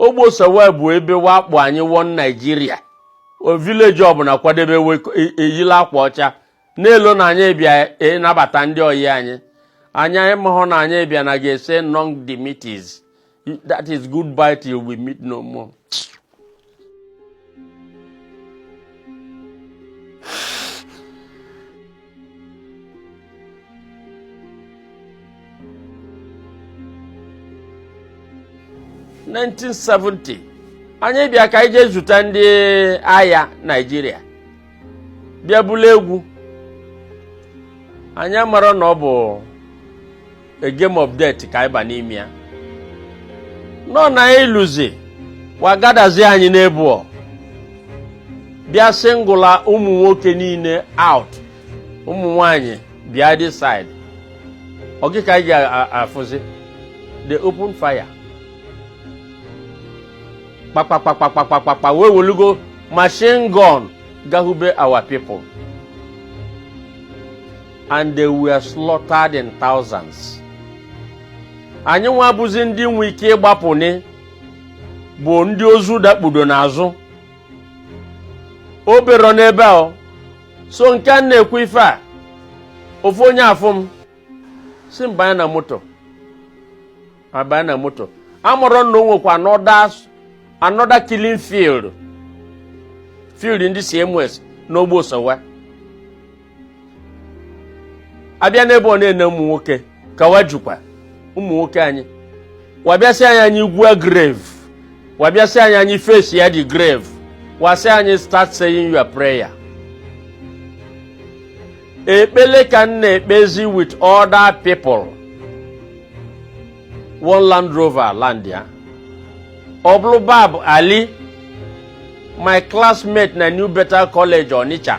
ogbe osowe bụ ebe wa kpọ anyị one naijiria vileji ọbụla kwadebe eyili akwa ọcha na-elo na anyị bịa nabata ndị oyi anyị anyị amahọ na anyị bịa na ga-ese nunc dimittis that is goodbye till we meet no more 1970 anyị bịa ka anyị jee zute ndị agha naijiria bịa bulu egwu anyị amarọ na ọ bụ a game of death ka ịba n'ime ya nọ na iluzi wa gatherzi anyị n'ebe ọ bịa singụla ụmụ nwoke niile out ụmụ nwanyị bịa this side ọ gị ka anyị ga-afụzi they open fire kpakpakpakpakpakpakpa wa ewelugo machine gun gahube our people and they were slaughtered in thousands anyị nwa bụzi ndị nwe ike ịgbapụnị bụ ndị ozu dakpudo n'azụ o berọ n'ebe a so nke a na-ekwu ife a ofu onye afụ m sị m banye na moto abanye na moto amarọ m na o nwekwa another killing field field ndị CMS n'Ogbe Osowe abịa n'ebe ọ na-ene ụmụ nwoke ka wa jukwa ụmụ nwoke anyị wa bịa sị anyị anyị gwuo grave wa bịa sị anyị anyị faceịa the grave wa sị anyị start saying your prayer ekpele ka m na-ekpezi with other people one land rover landịa ọ bụlụ baba ali my classmate na new bethel college onitsha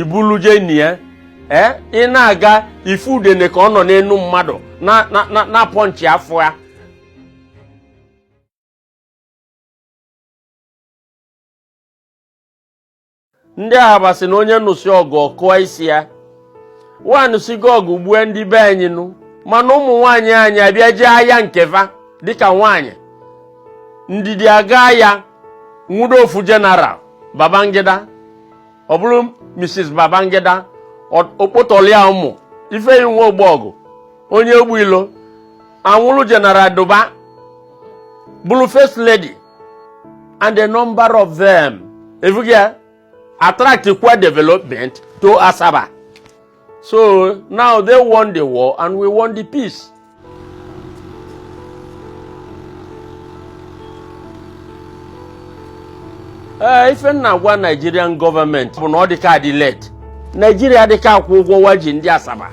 ibuluje na ya ee ị na-aga ị fụ udene ka ọ nọ n'enu mmadụ na- na- na- na-apọ nchi afọ ya ndị ahaba sị na onye nụsị ọgụ ọ kwụọ isi ya wa anụsịgo ọgụ gbue ndị be anyị nụ mana ụmụ nwaanyị anyị abịa jee aya nke fa dịka nwaanyị ndidi aga aya nwudo ofu jeneral babangida ọ bụlụ Mrs Babangida okpotọlia ụmụ Ifeyinwa Ogbogu onye egbu ilo anwụrụ General Duba bụlụ first lady and a number of them evugia attract kwa development to Asaba So now they won the war and we won the peace. ee ife n na-agwa Nigerian government bụ na ọ dịka adị late Nigeria dịka akwụ ụgwọ wa ji ndị Asaba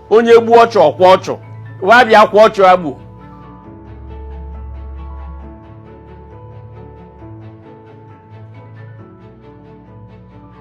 onye gbuo ọchụ ọ kwa ọchụ wa bịa kwa ọchụ agbu